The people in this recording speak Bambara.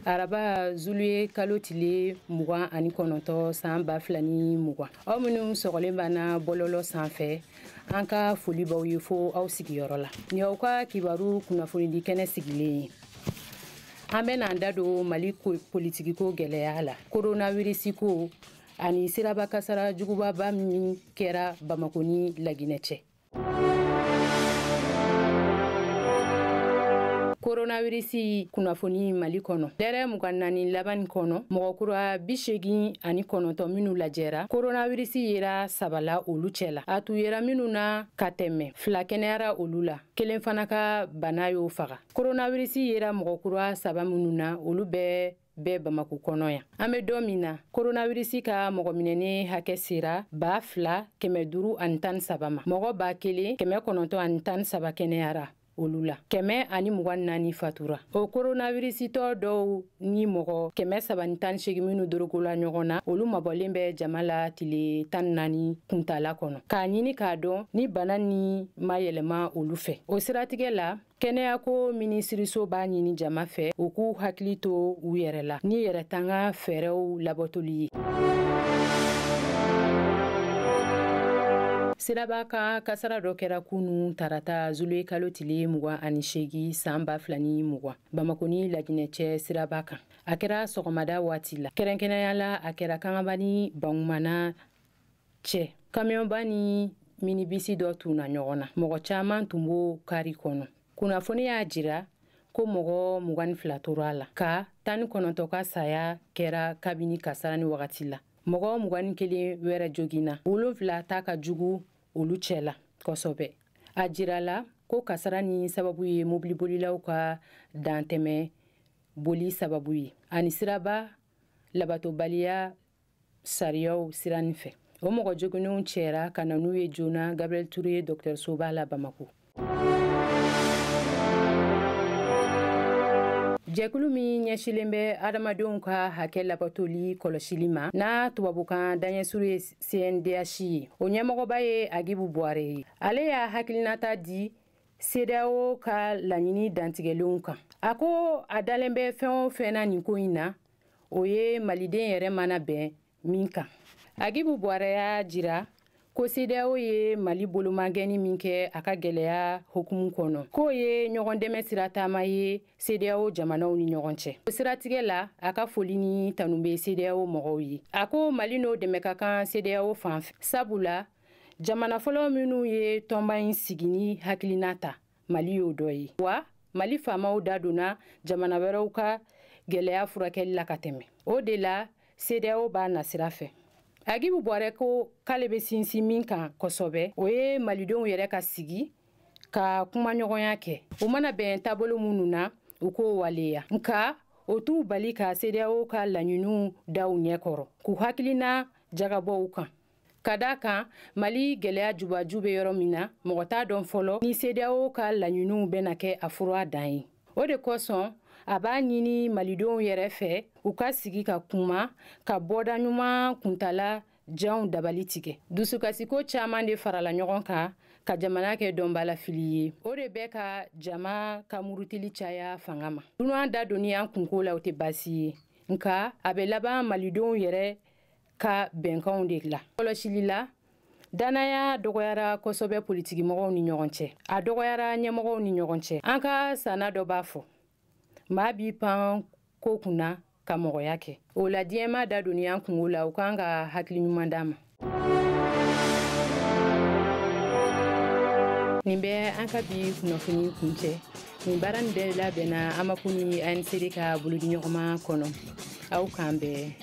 araba zuluye kalo tile mugan ani kɔnɔntɔ san ba fila ni mugan aw minnu sɔgɔlen b'an na bɔlɔlɔ sanfɛ an ka foli b'aw ye fo aw sigiyɔrɔ la ni aw ka kibaru kunnafonidi kɛnɛ sigilen ye an bɛna an da don mali politikiko gɛlɛya la koronawirisiko ani sirabakasara jugubaba min kɛra bamako ni laginɛ cɛ koronawirisi kunnafoni mali kɔnɔ lɛrɛ mugan naani laban kɔnɔ mɔgɔ kura bi segin ani kɔnɔntɔn minw lajɛra koronawirisi yera saba la olu cɛ la a tun yera minw na ka tɛmɛ fila kɛnɛyara olu la kelen fana ka bana y'o faga koronawirisi yera mɔgɔ kura saba minw na olu bɛɛ bɛ bamako kɔnɔ yan an bɛ don min na koronawirisi ka mɔgɔ minɛni hakɛ sera ba fila kɛmɛ duru ani tan saba ma mɔgɔ ba kelen kɛmɛ kɔnɔntɔ ani tan saba kɛnɛyara olu la kɛmɛ ani mugan naani fatura o koronawirisitɔ dɔw ni mɔgɔ kɛmɛ saba ni tan segin minnu dorogola ɲɔgɔn na olu mabɔlen bɛ jama la tile tan naani kuntala kɔnɔ k'a ɲini k'a dɔn ni bana nin ma yɛlɛma olu fɛ o siratigɛ la kɛnɛyako minisiriso b'a ɲini jama fɛ u k'u hakili to u yɛrɛ la ni yɛrɛ tanga fɛɛrɛw labatoli ye siraba kan kasara dɔ kɛra kunu tarata zuluye kalo tile mugan ani seegin san ba fila ni mugan bamako ni laginɛ cɛ siraba kan a kɛra sɔgɔmada waati la kɛrɛnkɛrɛnnenya la a kɛra kangaba ni bangumana cɛ kamiyɔnba ni minibisi dɔ tunna ɲɔgɔn na mɔgɔ caman tun b'o kari kɔnɔ kunnafoni y'a jira ko mɔgɔ mugan ni fila tora a la ka tan ni kɔnɔntɔ ka saya kɛra kabini kasara nin wagati la mɔgɔ mugan ni kelen wɛrɛ joginna wolonfila ta ka jugu olu cɛ la kosɔbɛ a jirala ko kasara nin sababu ye mobilibolilaw ka dantɛmɛ boli sababu ye ani siraba labatobaliya sariyaw siranni fɛ o mɔgɔ joginnenw cɛra ka na n'u ye joona gabriel ture dɔgɔtɔrɔsoba la bamako jɛkulu min ɲɛsilen bɛ adamadenw ka hakɛ labatoli kɔlɔsili ma n'a tubabukan daɲɛsuru ye cndh ye o ɲɛmɔgɔba ye agibu buware ye ale y'a hakilinata di cedeao ka laɲini dantigɛlenw kan a ko a dalen bɛ fɛn o fɛn na nin ko in na o ye maliden yɛrɛ mana bɛn min kan agibu buware y'a jira ko CEDEAO ye Mali bolomagɛnni min kɛ a ka gɛlɛya hukumu kɔnɔ k'o ye ɲɔgɔn dɛmɛ sira taama ye CEDEAO jamanaw ni ɲɔgɔn cɛ o siratigɛ la a ka foli ni tanu bɛ CEDEAO mɔgɔw ye a ko Mali n'o dɛmɛ ka kan CEDEAO fan fɛ sabula jamana fɔlɔ minnu ye tɔnba in sigini hakilina ta mali y'o dɔ ye wa mali faamaw da donna jamana wɛrɛw ka gwɛlɛya furakɛli la ka tɛmɛ o de la sedeyawo b'a nasira fɛ agibu buware ko k'ale be sinsin min kan kosɔbɛ o ye malidenw yɛrɛ ka sigi ka kumaɲɔgɔnya kɛ u mana bɛn taabolo minnu na u k'o waleya nka o t'u bali ka sedeyawo ka laɲiniw da u ɲɛ kɔrɔ k'u hakilina jagabɔ u kan ka d'a kan mali gwɛlɛya jubaju be yɔrɔ min na mɔgɔ t'a dɔn fɔlɔ ni sedeyawo ka laɲiniw bɛna kɛ a fura dan ye o de kosɔn a b'a ɲini malidenw yɛrɛ fɛ u ka sigi ka kuma ka bɔda ɲuman kuntala janw dabali tigɛ dusukasiko caaman de farala ɲɔgɔn kan ka jamana kɛ dɔnbalafili ye o de bɛ ka jama ka murutili caya fanga ma dunan da donni an kunko la o tɛ baasi ye nka a bɛ laban malidenw yɛrɛ ka bɛnkanw de la kɔlɔsili la danaya dɔgɔyara kosɔbɛ politikimɔgɔw ni ɲɔgɔn cɛ a dɔgɔyara ɲɛmɔgɔw ni ɲɔgɔn cɛ an ka nsana dɔ b'a fɔ maa b'i pan ko kunna ka mɔgɔya kɛ o la diɲɛmaa da donni an kunko la o kan ka hakili ɲuman d'an ma nin bɛ an ka bi kunnafoni kuncɛ nin baara nin bɛɛ labɛnna amapu ni ancd ka bolodiɲɔgɔnma kɔnɔ aw k'an bɛɛ